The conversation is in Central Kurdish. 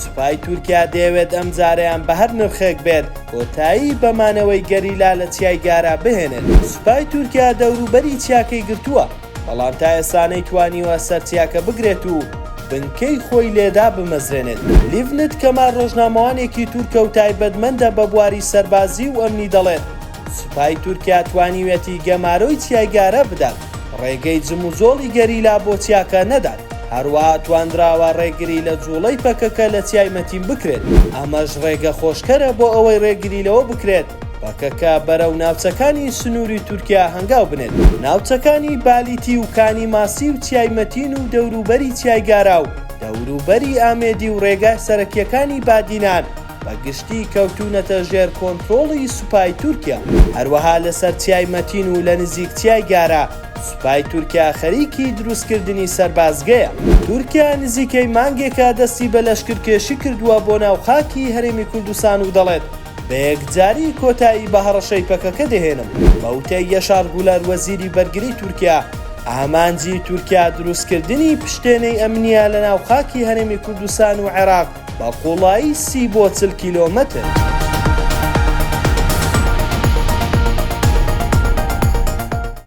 سوپای تورکیا دەیەوێت ئەم جارەیان بە هەر نرخێک بێت کۆتایی بە مانەوەی گەریلا لە چیای گارا بهێنێت. سوپای تورکیا دەوروبەری چیاکەی گرتووە، بەڵام تا ئێستا نەیتوانیوە سەر چیاکە بگرێت و بنکەی خۆی لێ دابمەزرێنێت. لیڤنت کەمال ڕۆژنامەوانێکی تورکە و تایبەتمەندە بە بواری سەربازی و ئەمنی دەڵێت، سوپای تورکیا توانیویەتی گەمارۆی چیای گارا بدات، ڕێگەی جموجۆڵی گەریلا بۆ چیاکە نەدات، هەروەها توانراوە ڕێگری لە جوڵەی پەکەکە لە چیای مەتین بکرێت، ئەمەش ڕێگە خۆشکەرە بۆ ئەوەی ڕێگری لەوە بکرێت پەکەکە بەرەو ناوچەکانی سنووری تورکیا هەنگاو بنێت. ناوچەکانی بالیتی و کانی ماسی و چیای مەتین و دەوروبەری چیای گارا و دەوروبەری ئامێدی و ڕێگا سەرەکییەکانی بادینان، بە گشتی کەوتوونەتە ژێر کۆنترۆڵی سوپای تورکیا. هەروەها لەسەر چیای مەتین و لە نزیک چیای گارە، سوپای تورکیا خەریکی دروستکردنی سەربازگەیە. تورکیا نزیکەی مانگێکە دەستی بە لەشکرکێشی کردووە بۆ ناو خاکی هەرێمی کوردستان و دەڵێت، بە یەکجاری کۆتایی بە هەڕەشەی پەکەکە دەهێنم. بە وتەی یەشار گولەر وەزیری بەرگری تورکیا، ئامانجی تورکیا دروستکردنی پشتێنەی ئەمنییە لە ناو خاکی هەرێمی کوردستان و عێراق، بە قوڵایی سی بۆ چل کیلۆمەتر.